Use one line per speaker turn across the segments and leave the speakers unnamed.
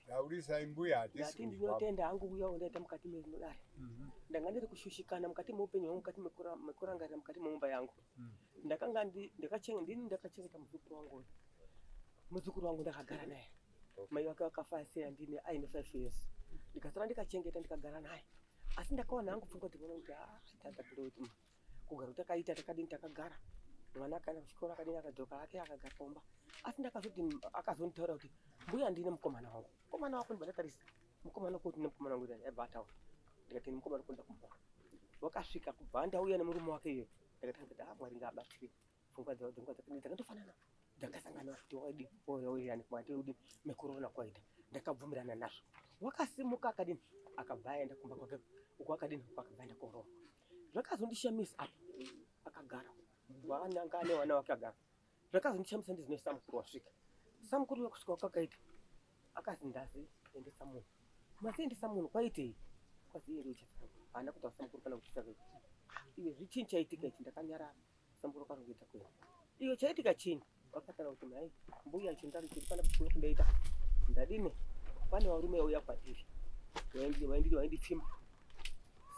Taurisai mbuya hatisi kunzwa. Ndinotenda
hangu uya wandaita mukati mekudare. Mhm. Ndanga ndiri kushushikana mukati meupenyu hwangu mukati mekurangarira mukati memumba yangu. Mhm. Ndakanga ndini ndakachengeta muzukuru wangu uyu. Muzukuru wangu ndakagara naye. Mai wake wakafa asina ndini aine five years. Ndikasara ndikachengeta ndikagara naye. Asi ndakawana hangu pfungwa dzinoona kuti ah tata kuti kugara kutakaita takadini takagara mwana akaenda kuchikoro akadini akadzoka hake akagara pamba asi ndakazoti akazonditaura kuti mbuya ndine mukomana wangu mukomana wako ndibatatarisa mukomana kuti ne mukomana wangu aibva ataura ndikati mukomana kuda kumba wakasvika kubva ndauya nemurume wake iyoyo ndakati ah, mwari ngaabatsire pfungwa dzavo dzingwa dzakatofanana dzakasangana kuti waidi wairani kumati udi mekorona kwaita ndakabvumirana nazvo wakasimuka akadini akabva aenda kumba kwake uko akadini uko akabva aenda korova zvakazondishamisa apa akagara waananga ane wana wake agara zvakazondishamisa ndizine samukuru wasvika samukuru wekusvika kwakaita akazi ndazi endesa munhu masiendesa munhu kwaitei kwazi iye ndiuchasara haana kuti asamukuru kana kuchisa vei iwe zvichini chaitika ichi ndakanyarara samukuru akazokuita kuya iwe chaitika chini Vakatara kuti mai mbuya chindari chiri pana kuno kundaita ndadini pane varume vauya kwatiri vaindipfimba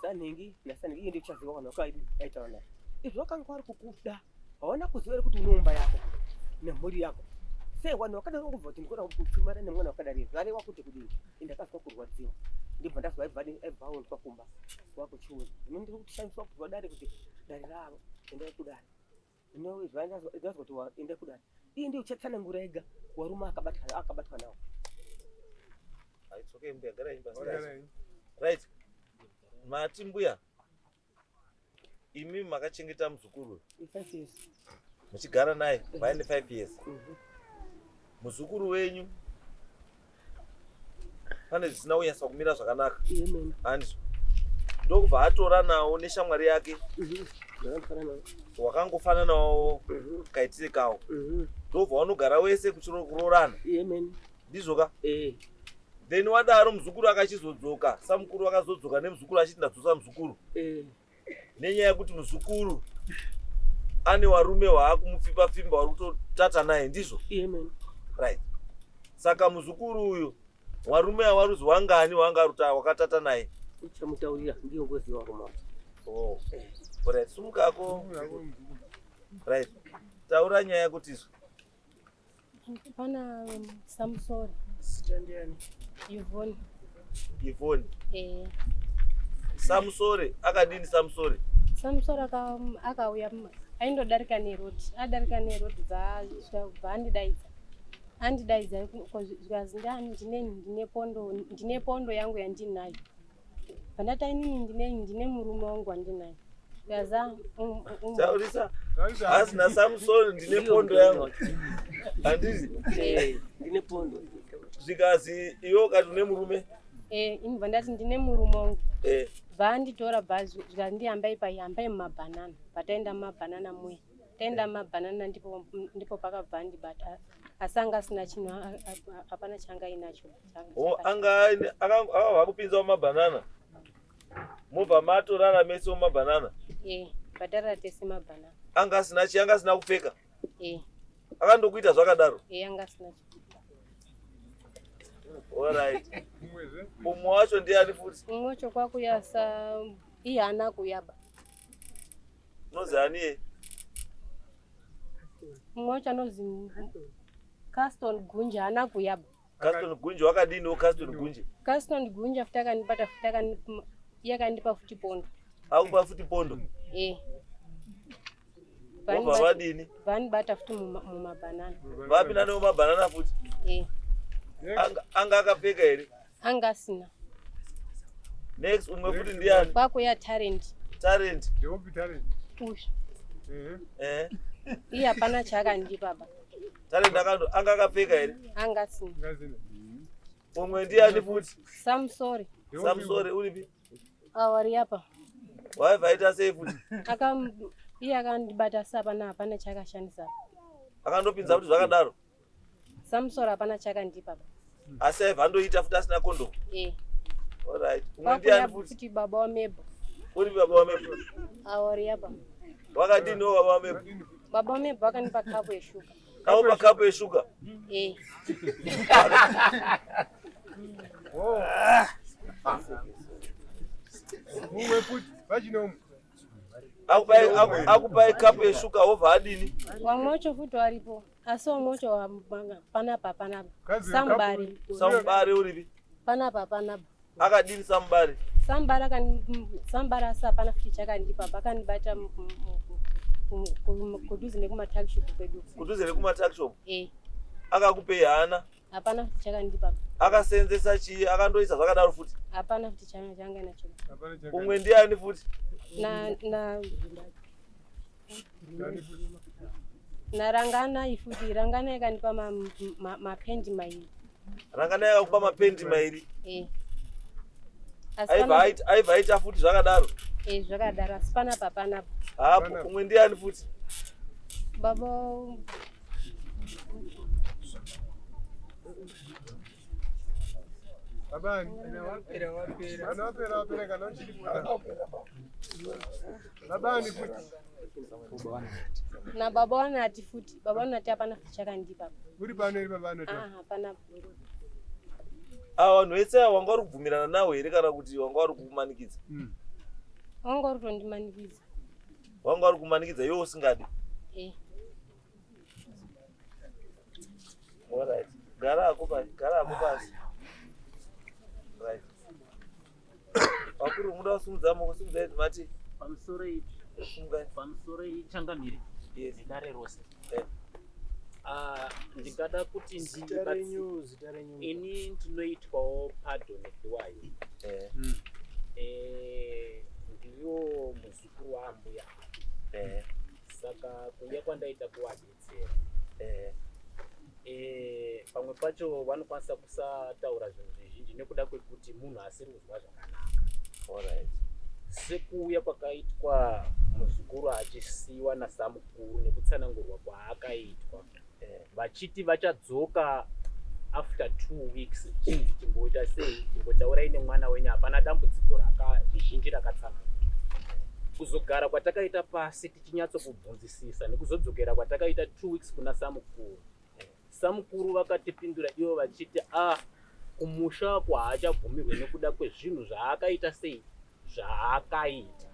sanhingi nasanhingi iye ndichaziva vanhu vakaaitaura naye izvo vakanga vari kukuda haona kuziva ri kuti unoumba yako nemhuri yako sei vanhu vakadaro kubva kuti ndikona kupfimana nemwana wakadari zvarewa kuti kudii indakazwa kurwadziwa ndibva ndazwa aibvaonzwa kumba wakuchiuza ino ndiri kutishandiswa kuzwa dare kuti dare ravo endai kudare No, it's right. That's what, that's what you are in the Quran. Hii ndio chatana ngurega waruma akabatwa akabatwa nao.
Ah, it's okay mbuya gara imba sasa. Right. Mati mbuya. Imi makachengeta mzukuru. 5 years.
Mchigara naye
by 5 years. Mm -hmm. Mzukuru wenyu pane zvisina kunyasa kumira zvakanaka hanzi ndokubva atora nawo neshamwari yake mhm. wakangofananawo mhm. kaitire kawo mhm. ndokubva wanogara wese kuroorana ndizvo ka eh. then wadaro muzukuru akachizodzoka samukuru akazodzoka nemuzukuru achiti ndadzosa muzukuru eh. nenyaya yekuti muzukuru ane warume waakumupfimba pfimba wari kutotata naye ndizvo right saka muzukuru uyu warume awaruzi wangani wanga aruta wakatata naye uchamutaurira
ndiyo ngozi warume wacho
oh. right sumukako right taura nyaya yekutizwa Pana
um, Samsori. Sitandiyani.
Yvonne.
Yvonne. Eh. Samsori
akadini Samsori? Samsori um,
akauya aindodarika neroad adarika neroad bva andidaidza andidaidza zvikanzi ndani ndine pondo yangu yandinayo Pandata inini ndine ndine murume wangu wandinaye. Yaza um, um, Taurisa
asi naSamson ndine pondo yangu. Handizi Eh,
ndine pondo. zvikanzi
iwe ukati une murume eh ini pandati
ndine murume wangu. eh, Vanditora bhazi zvikandi hambai pai hambai mumabhanana. Pataenda mumabhanana muya. Taenda mumabhanana ndipo ndipo pakabva andibata. Asanga asina chinhu a- a- a- hapana changa inacho. Oh, anga aine- aka- ava
vakupinzawo mabhanana mobva matorara mese mumabhanana Eh, bhadhara
tese mabhanana. anga asina chi anga
asina kupfeka Eh,
akandokuita zvakadaro eh
anga asina
chikuita.
alright umwe wacho ndiani futi Umwe wacho kwakuya
sa iye ana kuyaba.
unonzi aniye
Umwe wacho anozi Caston Gunja ana kuyaba. Caston Gunje
wakadini Caston Gunje? Caston Gunje futi akanibata
futi akanipa yakandipa futi pondo. Akupa futi pondo?
Eh. Vani vadini? Vani bata futi
muma banana. Vapi nani muma
banana futi? Eh. Anga anga akapfeka here? Anga sina. Next umwe futi ndiani? Kwako ya talent.
Talent. Ndopi
talent?
Push.
Eh. Eh. Iya pana chaka ndipa baba. Talent akando
anga akapfeka here? Anga asina. Umwe ndiani futi? Sam sorry.
Sam sorry uripi?
Awari apa.
Why vaita
sei futi? Aka iye
akandibata sapa na hapana chakashandisa. Akandopinza
kuti zvakadaro. Sam sorry
hapana chakandipa. asi aiva andoita
futi asina kondomu eh. olright umwe ndiani futi baba wamebo
uri baba wamebo
aoriapa
wakadini wo
baba wamebo baba wamebo
vakandipa kapu yeshuga kaupa kapu
yeshuga eh. umwe futi vachinomu akupai kapu yeshuga wobva adini vamwe vacho futi
varipo Aso mocho wa manga panapa panapa. Sambari.
Sambari uripi? Panapa panapa.
Akadini
sambari? Sambari akani
sambari asa pana fiti chakandipa pakanibata kuduze nekuma tuck shop kwedu. Kuduze nekuma tuck shop?
Eh. Akakupei hana? Hapana fiti chakandipa.
Akaseenzesa
chii? Akandoisa zvakadaro futi? Hapana fiti
changa nacho. Umwe ndiani
futi? Na na
narangana ifuti rangana yakandipa mapendi mairi rangana yakakupa
mapendi mairi eh. aibva aita futi zvakadaro eh, zvakadaro asi
pana papanapo hapo kumwe
ndiani futi baba
Abani.
Ana wapera wapera. Ana wapera wapera kana uchiri. Ana wapera. Babani
futi. Na baba wanati futi. Baba wanati hapana futi chakandipa. Uri pano iri baba
wanati. Ah, hapana
bhuru. Ah,
vanhu vese wanga uri kubvumirana nawo here kana kuti wanga uri kumanikidza? Mm.
Wanga uri kundimanikidza. Wanga
uri kumanikidza iwe usingadi? Eh. All right. Gara hako pasi, gara hako pasi. Right. vakuru muda kusumudza moko sumudza idzi mati pamusoro ipi
pamusoro ichangamire nedare rose eh. ah, ndingada kuti ini ndinoitwawo pardon ediwayo eh. hmm. eh, ndiwo muzukuru waambuya saka kuuya kwandaita kuwadi eh, eh, pamwe pacho vanokwanisa kusataura zvinhu zvizhinji nekuda kwekuti munhu asiri kuzwa zvakanaka
sekuuya
kwakaitwa muzukuru achisiyiwa nasamukuru nekutsanangurwa kwaakaitwa eh. vachiti vachadzoka after two weeks chimboita sei chimbotaurai nemwana wenyu hapana dambudziko raka zvizhinji rakatsanangurwa kuzogara kwatakaita pasi tinyatso kubvunzisisa nekuzodzokera kwatakaita two weeks kuna samukuru samukuru vakatipindura ivo vachiti ah kumusha wako haachabvumirwe nekuda kwezvinhu zvaakaita sei zvaakaita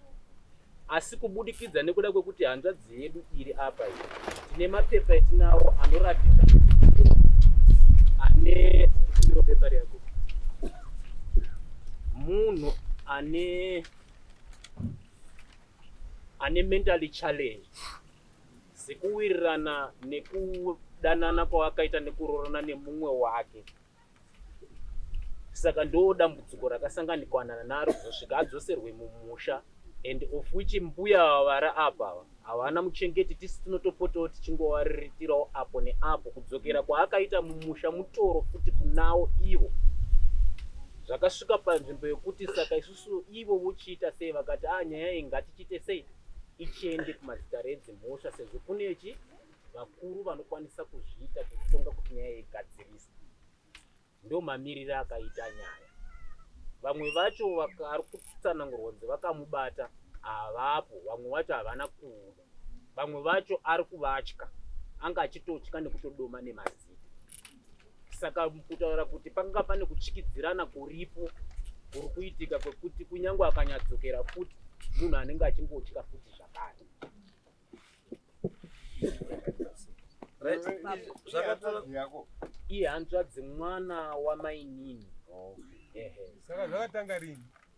asi kubudikidza nekuda kwekuti hanzvadzi yedu iri apa iyi tine mapepa etinawo anoratidza ane pepa rako munhu ane ane mentally challenge dzekuwirirana nekudanana kwawakaita nekuroorana nemumwe wake saka ndo dambudziko rakasanganikwanana naro kuzosvika adzoserwe mumusha and of which mbuya vavara apa ava havana muchengeti tisi tinotopotawo tichingovaririkirawo apo neapo kudzokera kwaakaita mumusha mutoro futi kunawo ivo zvakasvika panzvimbo yekuti saka isu So ivo vochiita sei vakati a ah, nyaya iyi ngatichiite sei ichiende kumazita redzimhosva sezvo kunechi vakuru vanokwanisa kuzviita kutonga kuti nyaya yegadziriswa ndo mamiriro akaita nyaya vamwe vacho ari kutsanangurwa kunzi vakamubata havapo vamwe vacho havana kuuya vamwe vacho ari kuvatya anga achitotya nekutodoma nemazita saka kutaura kuti panga pane kutyidzirana kuripo kuri kuitika kwekuti kunyange akanyadzokera futi munhu anenge achingotya futi zvakare ihanzvadzi mwana wamainini
saka zvakatanga rini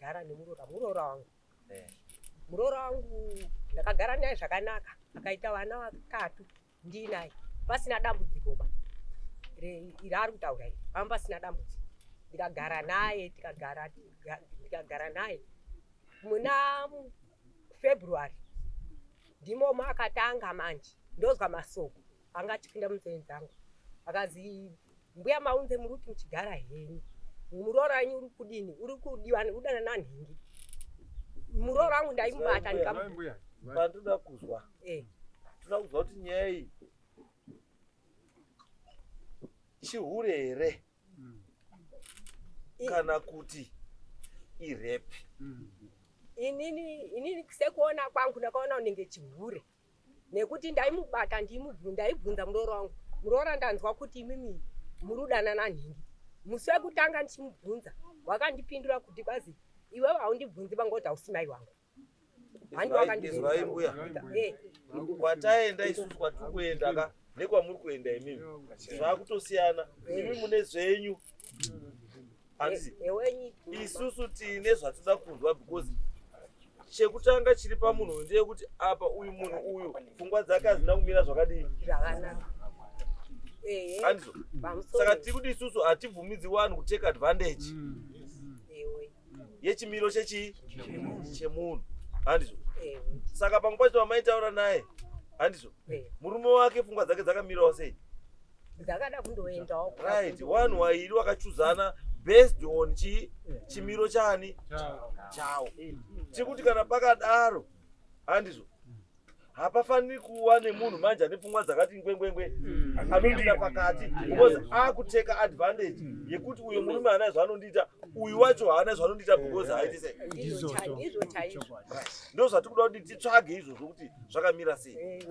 gara nemuroora muroora wangu eh. muroora wangu ndakagara naye zvakanaka akaita vana vakatu ndiinaye pasina dambudziko ba raari kutaura iri pamba pasina dambudziko ndikagara naye tikagara ndikagara naye muna february ndimo makatanga manje ndozwa masoko anga achipinda munzeve dzangu akazi mbuya maunze muri kuti muchigara henyu muroora wenyu uri kudini uri kudiwa udana nanhingi muroora wangu ndaimubata ndikambuya
pandoda kuzwa eh. toda kuzwa kuti nyaya iyi chihure here hmm. kana kuti irepi hmm.
inini inini sekuona kwangu ndakaona unenge chihure nekuti ndaimubata ndiimubu ndaibvunza muroora wangu muroora ndanzwa kuti imimi murudana nanhingi musi wekutanga ndichimubvunza wakandipindura kuti kwazi iwe haundibvunzi vanga kuti hausi mai wangu
handiwakandikwataenda eh. isusu kwatiri kuenda ka nekwamuri kuenda imimi zvakutosiyana imi mune zvenyu hanzi isusu tiine zvatinoda kunzwa because chekutanga chiri pamunhu uyu ndeyekuti apa uyu munhu uyu pfungwa dzake hadzina kumira zvakadii andizo saka tiri kuti isusu hatibvumidzi wani kutake advantage mm. yechimiro chechii chemunhu handizo saka pamwe pacho vamaitaura naye handizo murume wake pfungwa dzake dzakamirawo sei
ndakada kundoendawo right one
wairi wakachuzana based on chi chimiro chani chawo chekuti kana pakadaro handizvo hapafaniri kuva nemunhu manje ane pfungwa dzakati ngwengwengwe mm. anondida pakati because akuteka advantage mm. yekuti uyo murume haana zvaanondiita uyu wacho haana zvaanondiita because haiti sei ndo zvatiri kuda kuti titsvage izvozvo kuti zvakamira sei eh,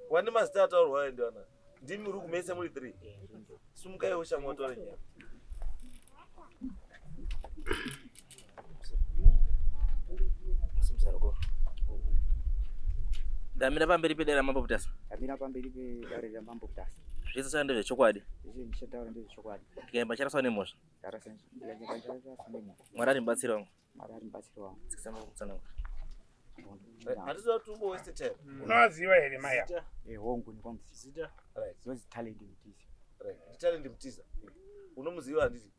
wani mazita ataurwa ayo ndiwana ndimi uri kumese muri three sumukai ushamwa utore nyaya
ndamira pamberi pedare ramambo butasa ndamira pamberi
pedare ramambo butasa zvese saka ndezvechokwadi ndikaimba charaswa nemhosva
mwari ari mubatsiri wangu
unovaziva here
maya hongu ndikwamuzita
zvinonzi talent mutiza talent
mutiza unomuziva handiti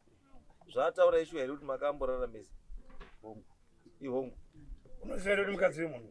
zvaataura ishuwa here kuti makamborara mese hongu
ihongu
unoziva here
kuti mukadzi wemunhu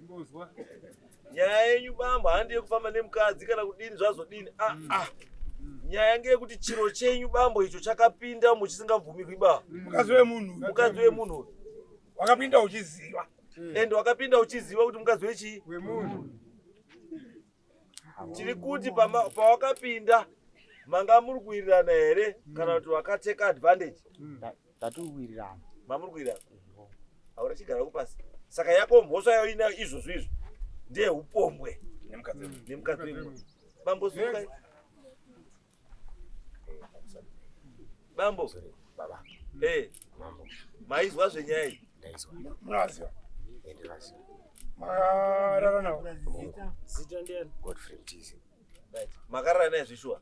nyaya yenyu bambo handi yekufamba nemukadzi kana kudini zvazodini ah, mm. ah. nyaya ngeyekuti chiro chenyu bambo icho chakapinda muchisingabvumirwi ba mm. mukadzi wemunhu
mukadzi wemunhu
wakapinda
uchiziva mm. and wakapinda
uchiziva kuti mukadzi wechii wemunhu tiri kuti pawakapinda manga muri kuwirirana here kana kuti wakateka advantage tatiri
kuwirirana mamuri kuwirirana
hauna chigara kupasi saka yako mhosva yayo inayo izvozvo izvo ndeye upombwe nemukadzi wemwe bambosuka Bambo. Sorry, baba.
Hey. Eh. Mambo. Maizwa
zvenyaya iyi. Ndaizwa. Munaziva.
Enderazio.
Makarara
nawo. Zita
ndiani? Godfrey Mtizi.
Right. Makarara
naye zveshuwa.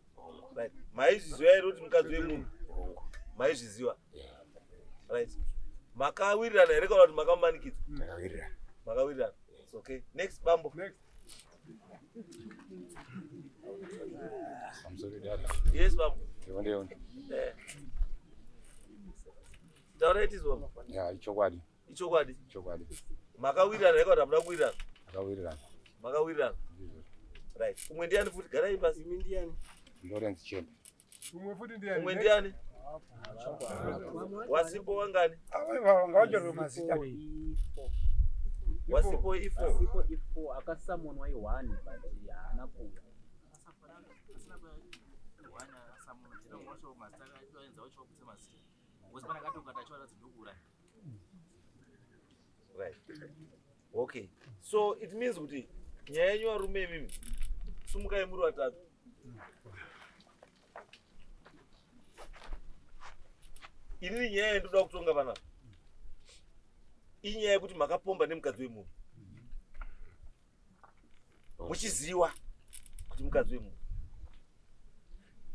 Right. Maizviziva here kuti mukadzi wemunhu? Maizviziva. Yeah. Right. Makawirirana here kana kuti makamumanikidza? Makawirirana.
Makawirirana. It's
okay. Next bambo. Next.
I'm sorry, Dad. Yes, Babu. You
want to
Eh.
Taura iti Babu. Yeah, ichokwadi.
Ichokwadi. Ichokwadi. Makawirirana heko
tamuda kuwirirana. Makawirirana.
Makawirirana.
Right. Umwe ndiani futi gara ipasi. Imi ndiani?
Lawrence Chembe.
Umwe futi ndiani?
Umwe ndiani?
Wasipo wangani? Ngawachorwe
mazita.
Wasipo ifo. Wasipo ifo
akasamonwa i1 but haana kuuya.
Right. Okay. So it means kuti nyaya yenyu varume imimi sumukai muri vatatu. Inini nyaya yendoda kutonga vanapa inyaya yekuti makapomba nemukadzi wemunhu muchiziwa kuti mukadzi wemunhu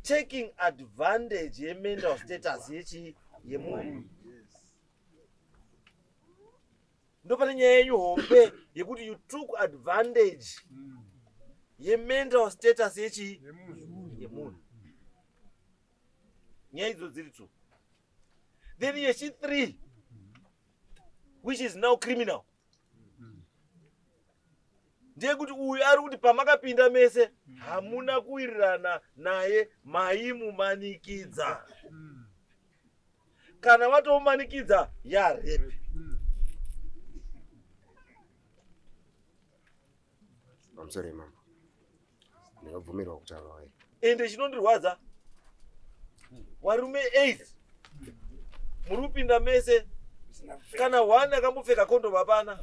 taking advantage yemental status yechi yemunhu ndopane nyaya yenyu hombe yekuti you took advantage mm. yemental status yechii yemunhu nyaya idzo dziri two then yechi three which is now criminal ndeyekuti uyu ari kuti pamakapinda mese hamuna kuwirirana naye maimumanikidza kana watomumanikidza yarepi
I'm sorry, Mom. ndinobvumirwa kutaura waye ende chinondirwadza
varume eight muri kupinda mese kana one akambopfeka kondom hapana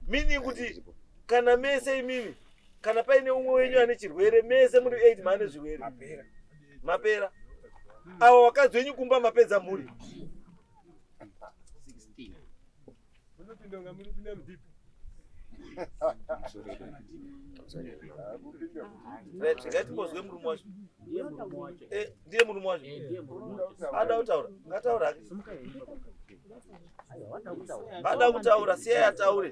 meaning kuti kana mese imimi kana paine umwe wenyu ane chirwere mese muri eight maane zvirwere mapera avo vakadzi venyu kumba mapedza mhuri Munopinda kunga muri kupinda mudhipo. Ngatimbozwe murume wacho. Eh, ndiye murume wacho. Ada kutaura. Ngataura. Ada kutaura, siya yataure.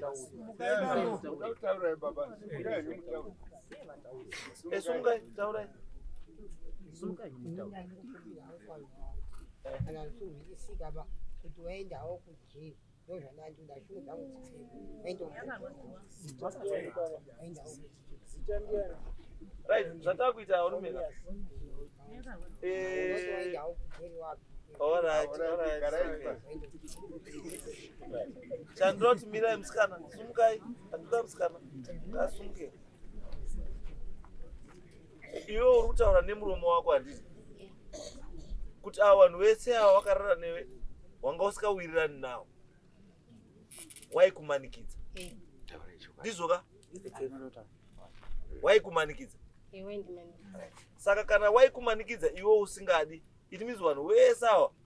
Eh, sunga taura. Sunga taura.
Ana sunga sikaba kuti waenda huko.
Right, zvataa kuita varume ka. Eh, all right, all right, okay. Chandoti mirai musikana, sumukai, handida musikana, asumuke. iwe uri kutaura nemuromo wako handiti kuti ava vanhu vese ava vakarara newe wanga usikawirirani nawo waikumanikidza ndizvoka waikumanikidza saka kana waikumanikidza iwe usingadi it means vanhu vese ava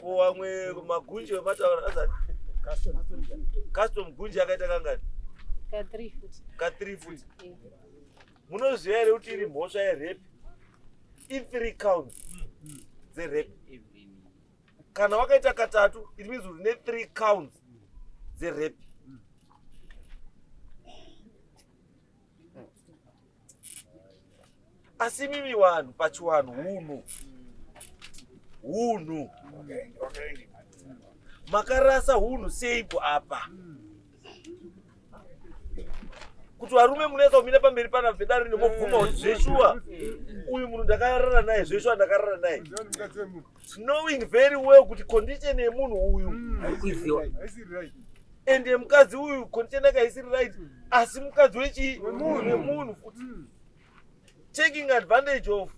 Kuwamwe
magunje vemataura azani. Custom. Custom gunje akaita kangani? Ka 3
foot. Ka 3 foot. Eh.
Munoziva here kuti iri mhosva yerepe? I 3 counts dzerepe. Kana wakaita katatu, it means uri ne 3 counts dzerepe. asi mimi vanhu pachivanhu hunhu hunhu makarasa hunhu seiko apa kuti varume munoisa kumira pamberi pana vedare rine mobvuma kuti zveshuwa uyu munhu ndakarara naye zveshuwa ndakarara naye knowing very well kuti condition yemunhu uyu mm. ende mukadzi uyu condition yake haisiri right asi mukadzi wechii wemunhu futi hmm. taking advantage of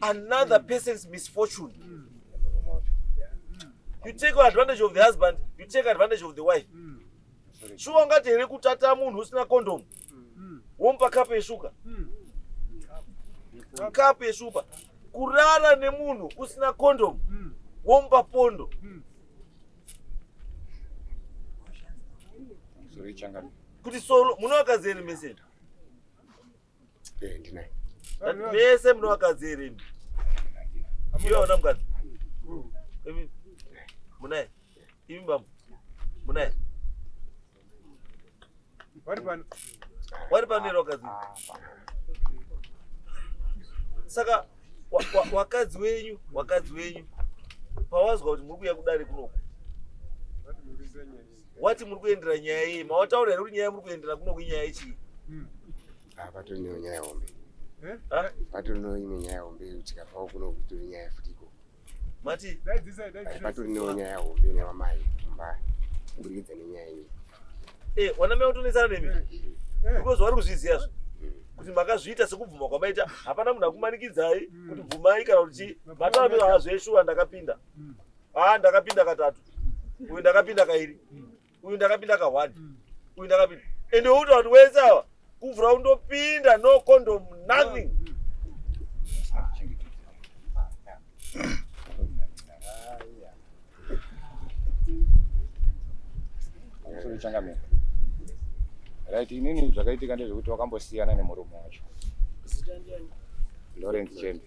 another hmm. person's misfortune hmm. you take advantage of the husband you take advantage of the wife shuwa ungati here kutata munhu usina condom womupa kapu yeshuka kapu yeshupa kurara nemunhu usina condom womupa pondo kuti solo munowakadzi ere mese eh,
ndinaye mese
munowakadzi ere imi iwe hauna mukadzi munaye imi bambo munaye Wari pano. Wari pano iro wakadzi. Saka wakadzi wenyu, wakadzi wenyu. Pawazwa kuti muri kuya kudare kunoku. Wati muri kuendera nyaya yei? Mawataura here kuti nyaya muri kuendera kunoku inyaya yechii? Hmm. Ah,
patori nenyaya hombe. Eh? Patori nenyaya hombe tikabvawo kunoku tori nyaya futi. Mati, dai
dzisa, dai dzisa. Patori
newo nyaya hombe ne wamai kumba. Kuburikidza nenyaya iyi. Eh, wana
mea utonetsana nemi. Eh, eh. Because wari kuzviziva zvo. Mm. Kuti makazviita sekubvuma kwamaita hapana munhu akumanikidzai mm. kuti bvumai kana kuti chii. Matambiro hazveshuwa ndakapinda. Mm. Ah, ndakapinda katatu. Uyu ndakapinda kairi. uyu ndakapinda kahwani mm. uyu ndakapinda ende uti vanhu wese ava kuvhura undopinda no condom nothing
changamira right inini zvakaitika ndezvekuti wakambosiyana nemurume wacho lawrence chembe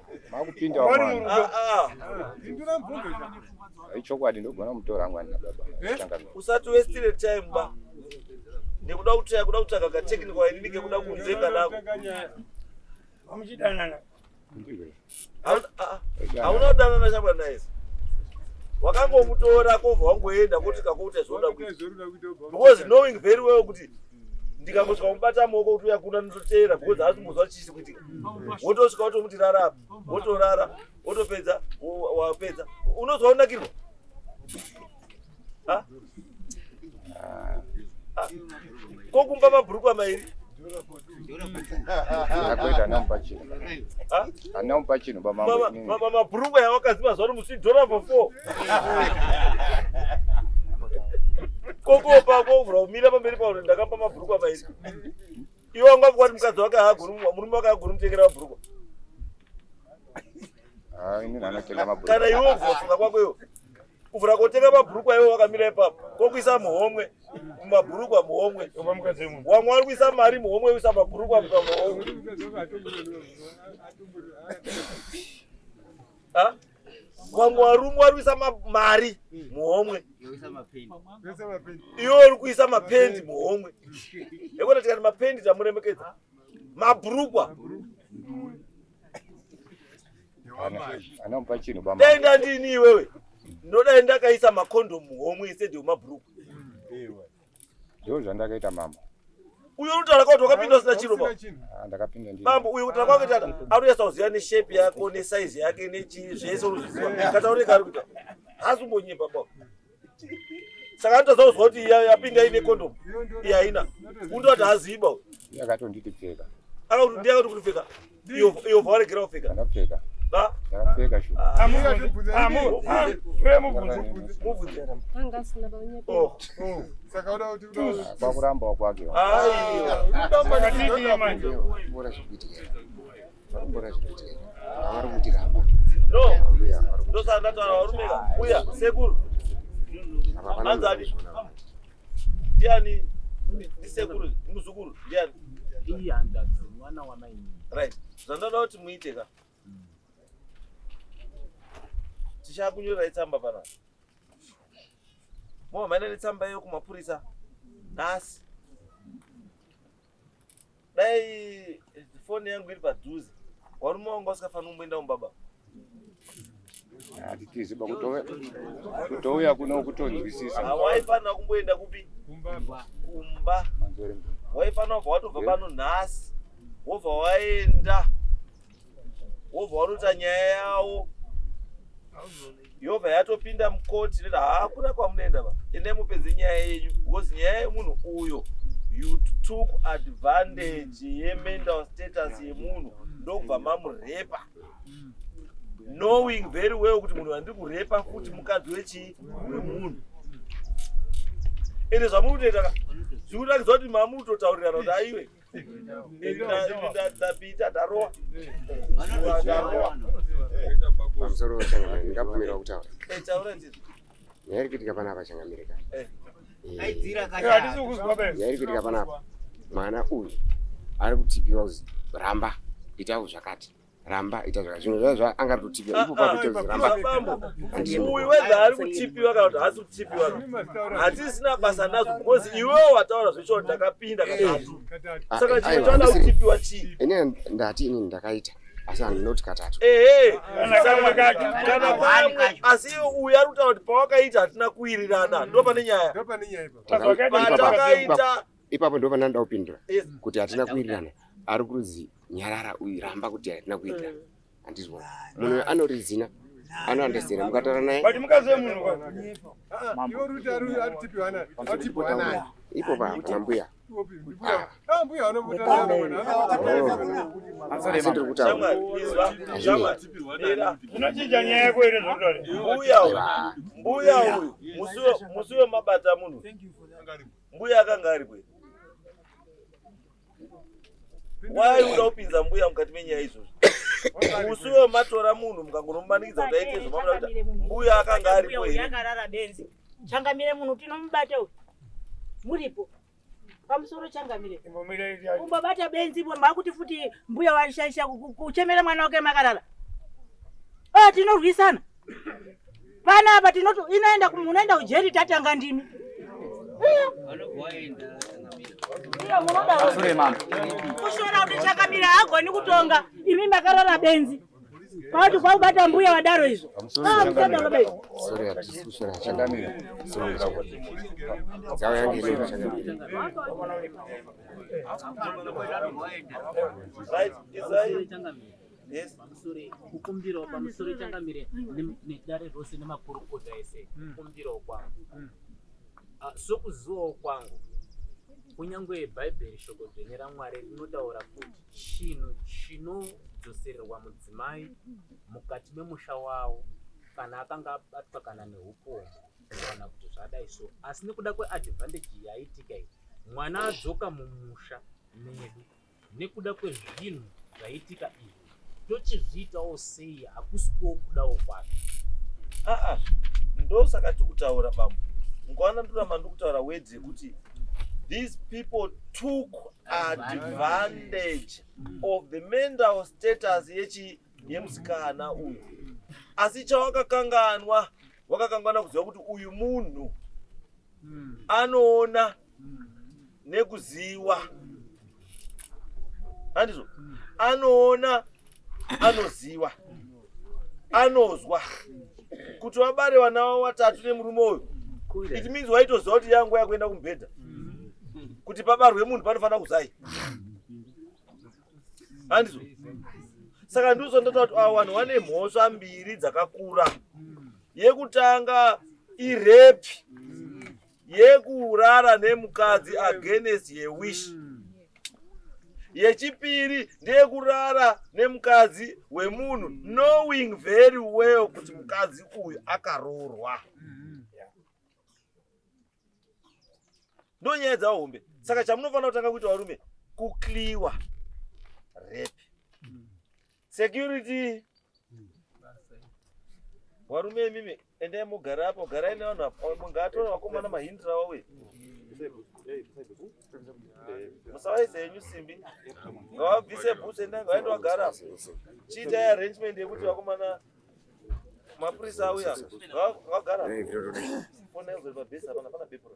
makupinda mwana
ndindira mvunzo ichokwadi ndogona mutora mwana na baba eh? usati westire time
ba ndikuda kuti yakuda kutsvaga ka technical ini ndike kuda kunze kanako amuchidanana hauna kudanana shabwa naye wakangomutora kobva wangoenda kuti kakuita zvoda kuita because knowing very well kuti ndikangosvika kumubata maoko kuti uya kuna ndinoteera because haasi kumbozwa chisi kuitika wotosvika wotomuti rara apa wotorara wotopedza wapedza unozwa unakirwa ko kumba mabhurukwa mairi
Ndakuita nampa chino. Anampa chino baba mama. Mama mabhurungwa
yawakaziva zvaro musi dollar for four. Koko pako uvura umira pamberi pauri ndakapa mabhurungwa pairi. Iwe wanga kwati mukadzi wake haagoni murume wake haagoni mutengera mabhurungwa.
Ah, ini nanatenga mabhurungwa. Kana iwe uvura funga kwako
iwe. kuvhura kotenga mabhurukwa iwo wakamira ipapo kokuisa muhomwe mumabhurukwa muhomwe wamwe wari kuisa mari muhomwe uisa mabhurukwa muka muhomwe wamwe warumwe wari kuisa mari muhomwe iwo uri kuisa mapendi muhomwe ekona tikati mapendi tamuremekedza mabhurukwa
Anopa chinhu baba. Dai ndandini iwewe.
Ndodai ndakaisa makondomu homwe instead yemabhuruku.
Ndoo zvandakaita mama. Uyo unotaura
kuti wakapinda usina chiro baba. Ah, ndakapinda ndini. Mambo
uyo unotaura kwake tata.
Anonyasa kuziva ne shape yako ne size yake ne chii zvese unoziva. Kataure kari kuita. Hasi umbonyepa baba. saka anotadza kuzwa kuti yapinda ine kondomu iye haina undoti haaziiba uyu akatonditi pfeka
akakuti ndiye akati kuti
pfeka iyo vawaregera kupfeka ndapfeka
ndapfeka shu
kwakuramba wakwake
ndiani ndisekuru muzukuru ndiani iyi hanzvadzi
mwana wamaini right zvandoda
kuti muite ka tichakunyorerai tsamba pana momhanya netsamba iyo kumapurisa nhasi dai foni yangu iri padhuze warume wanga usikafanira kumboenda kumbaba
hatitizi ba kutouya kuno kutonzwisisa ah, waifanira kumboenda
kupi kumba waifanira kubva watobva pano nhasi wobva waenda wobva wanota nyaya yawo yobva yatopinda mukoti neta haa kuna kwamunoenda va ende mupedze nyaya yenyu because nyaya yemunhu uyo you took advantage mm. yemental status yemunhu ndokubva mamurepa mm. knowing very well kuti munhu andiri kurepa futi mukadzi wechii wemunhu ende zvamuri kutoita zviri kutakidzwa kuti mamuri kutotaurirana kuti aiwe ndapita ndarowa
pamusoro changamire ndikabvumirwa kutaura
nyaya iri kuitika
panapa changamire ka nyaya iri kuitika panapa mwana uyu ari kutipiwa kuzi ramba itawo zvakati ramba ita zvaka zvinhu zvaa zvaa anga ari kutipiwa ah, ipo papo ah, chakuti ramba uyu wedha
ari kutipiwa kana kuti haasi kutipiwa hatisina basa nazvo because iwewo wataura zvechokuti ndakapinda katatu ah, saka eh, chimwe chauda kutipiwa chii ini ndati ini
ndakaita asi handinoti katatu ehe kana
pamwe asi uyu ari kutaura kuti pawakaita hatina kuwirirana ndo pane nyaya patakaita ipapo ndo pandanoda
kupindura kuti hatina kuwirirana ari kurudzi nyarara uyu ramba kuti hatina kuwirirana mm. handizwa munhu anori zina anoandesera mukataura naye
ipo pana
mbuya
asindiri kutaura
zvinochinja nyaya yako iri zvotore mbuya uyu
mbuya uyu musi wemabata munhu Mbuya akanga ari kwe. Why uda kupinza mbuya mukati menyaya izvozvo? Musi uyo matora munhu mukangonomumanikidza kuti aite izvo mamuda kuti mbuya akanga ari kwe. Mbuya akarara benzi.
Changamire munhu tinomubata uyu. Muripo pamusoro changamire kumbobata benzi bo makuti futi mbuya waishaisha kuchemera mwana wake makarara oh, tinorwisana Pana apa tinoti inoenda kumunoenda ujeri tatanga ndimi.
Kushora kuti
chakamira hagoni kutonga imi makarara benzi. Pauti kwaubata mbuya wadaro izvo. Ah,
Sorry, hatisi kushora chakamira. Sorry. Zao yangu ile chakamira.
Right, is
kukumbirawo pamusoro changamire nedare rose nemakurukota ese hmm. kukumbirawo kwangu hmm. ah, sokuzivawo kwangu kunyange bhaibheri shoko dzvene ramwari rinotaura kuti chinhu chinodzosererwa mudzimai mukati memusha wavo kana akanga abatwa kana neupomu kana kuti zvadai so asi nekuda kweadvantage yaitika iyi mwana adzoka mumusha medu nekuda kwezvinhu zvaitika izvi tochizviitawo sei hakusi kwokudawo kwake aa
ndosaka tikutaura bambo ngwana ndoramba ndikutaura wedzi yekuti these people took advantage of the mental status yechi yemusikana uyu asi chawakakanganwa wakakanganwa kuziva kuti uyu munhu anoona nekuziwa handizvo anoona anoziwa anozwa kuti vabare vana vavo vatatu nemurume uyu it means waitoziva kuti yanguva yakuenda kumubhedha kuti pabarwe munhu panofanira kuzai handizo saka ndizo ndotaura kuti ava vanhu vane mhosva mbiri dzakakura yekutanga irepi yekurara nemukadzi against ye wish mm. yechipiri ndeyekurara nemukadzi wemunhu knowing very well kuti mukadzi uyu akaroorwa ndonyaya dzahombe saka chamunofanira kutanga kuita varume kukliwa repi Security. Warume mimi endai mugara apo garai nevanhu apo mungatora vakomana mahindira wawe. Musawaise henyu simbi. Ngavabvise bhutsu endai ngavaende vagara apo. Chiitai arrangement yekuti vakomana mapurisa auya vagara. Fona yozori pabhesi hapana pana bepuro.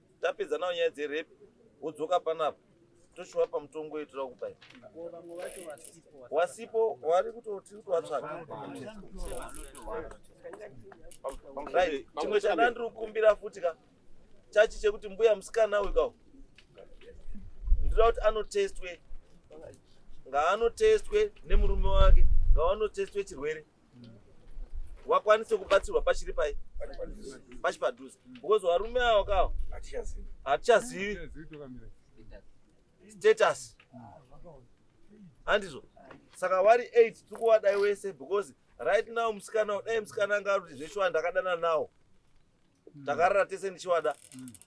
tapedza nawo nyaya dzerepi wodzoka panapa toshuva pamutongo wedu tira kupai wasipo wari kutoti kutowatsvaka chimwe chandandiri kukumbira futi ka chachi chekuti mbuya musikana uyu kawo ndinoda kuti anotestwe ngaanotestwe nemurume wake ngawanotestwe chirwere wakwanise kubatsirwa pachiri pai pachi padhuze because varume avo kawo hatichazivi status handizvo saka vari eight tiri kuwadai wese because right now musikana dai musikana anga kuti zveshuwa ndakadana nawo takarara tese ndichiwada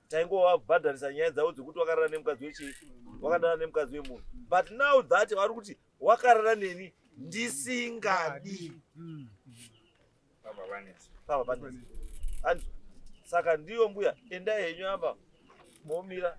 taingovabhadharisa nyaya dzavo dzekuti wakarara nemukadzi wechii wakadana nemukadzi wemunhu but now that vari kuti wakarara neni ndisingadi mm. baba vanetsa baba vanetsa saka ndiyo mbuya endai henyu apa momira